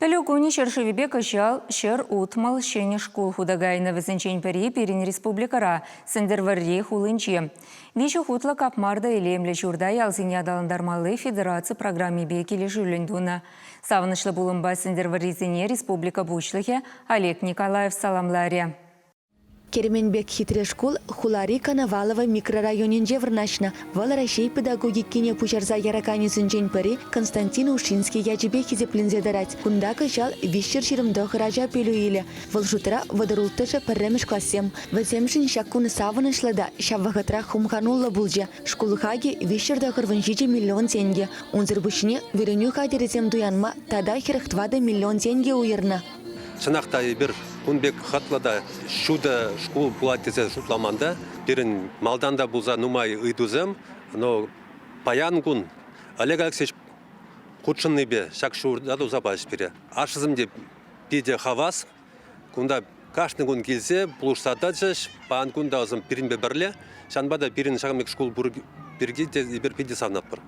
Пӗлӳ кунӗ ҫӗршывӗпе кӑҫал Ҫӗр утмӑл ҫӗнӗ шкул хута кайнӑ. Вӗсенчен пӗри пирӗн республикӑра, Сӗнтӗрвӑрри хулинче. Виҫӗ хутлӑ капмарда илемлӗ ҫурта ялсене аталантармалли федераци программипе килӗшӳллӗн тунӑ. Савӑнӑҫлӑ пулӑмпа Сӗнтӗрвӑррисене республика Пуҫлӑхӗ Олег Николаев саламларӗ. Кермен пек хитре шкул хулари Коновалово микрорайонӗнче вырнаҫнӑ. Вӑл Раҫҫей педагогикине пуҫарса яраканӗсенчен пӗри Константин Ушинский ячӗпе хисепленсе тӑрать. Кунта кӑҫал виҫҫӗр ҫирӗм тӑхӑр ача пӗлӳ илӗ. Вӑл шутра вӑтӑрулттӑшӗ пӗрремӗш классем. Вӗсемшӗн ҫак кун савӑнӑҫлӑ та ҫав вӑхӑтрах хумхануллӑ пулчӗ. Шкул хакӗ виҫҫӗр тӑхӑрвун ҫичӗ миллион тенкӗ. Унсӑр пуҫне вӗренӳ хатӗрӗсем туянма тата хӗрӗх тӑватӑ миллион тенкӗ уйӑрнӑ. Чӑнах та эпир кун пек хӑтлӑ та ҫутӑ шкул пулать тесе шутламан та. Пирӗн малтан та пулса нумай ыйтусем, но паян кун Олег Алексеевич хутшӑннипе ҫак ҫурта туса пачӗҫ пире. Ашшӗсем те питӗ хавас. Кунта кашни кун килсе пулӑшса тӑчӗҫ. Паян кун та пирӗнпе пӗрле. Ҫавӑнпа та пирӗн ҫакӑн пек шкул пур пирки те эпир питӗ савнатпӑр.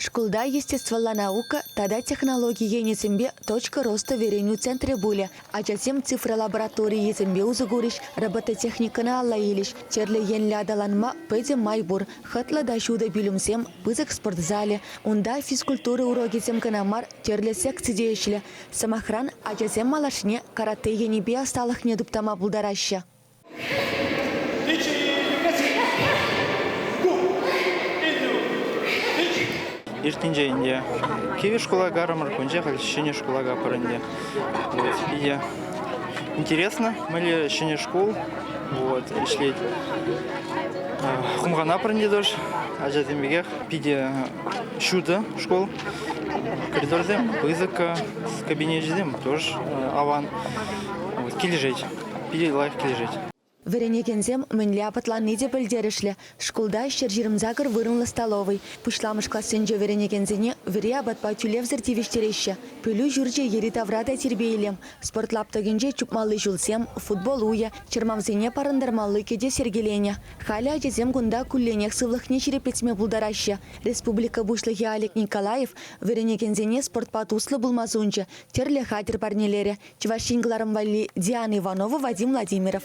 Шкулта естествӑлла наука тата технологи енӗсемпе «Точка роста вӗренӳ центрӗ» пулӗ. Ачасем цифра лабораторийӗсемпе усӑ курӗҫ, робототехникӑна алла илӗҫ. Тӗрлӗ енлӗ аталанма питӗ май пур. Хӑтлӑ та ҫутӑ пӳлӗмсем, пысӑк спорт залӗ. Унта физкультура урокӗсем кӑна мар, тӗрлӗ секци те ӗҫлӗ. Сӑмахран, ачасем малашне карате енӗпе ӑсталӑхне туптама пултараҫҫӗ. Иртинче ӗнтӗ кивӗ шкула кайрӑмӑр, кунче халь ҫӗнӗ шкула капӑр ӗнтӗ. Вот, ӗнтӗ интересно, мӗнле ҫӗнӗ шкул вот, ӗҫлет. Хумхана пӗринче тӑш, ачасем пекех питӗ ҫутӑ шкул. Коридорсем пысӑк, кабинечӗсем тоже аван. Вот, килӗшет. питӗ лайӑх килӗшет. Вӗренекенсем мӗнле апатланни те пӗлтерӗшлӗ. Шкулта ҫӗр ҫирӗмсакӑр вырӑнлӑ столовӑй. Пуҫламӑш классенче вӗренекенсене вӗри апатпа тӳлевсӗр тивӗҫтереҫҫӗ. Пӗлӳ ҫурчӗ йӗри-тавра та тирпей-илем. Спорт лаптӑкӗнче чупмалли ҫулсем, футбол уйӗ, чӑрмавсене парӑнтармалли кӗтес йӗркеленӗ. Халӗ ачасем кунта кулленех сывлӑхне ҫирӗплетме пултараҫҫӗ. Республика Пуҫлӑхӗ Олег Николаев вӗренекенсене спортпа туслӑ пулма сунчӗ, тӗрлӗ хатӗр парнелерӗ Чӑваш Ен кӑларӑм валли Диана Иванова, Вадим Владимиров.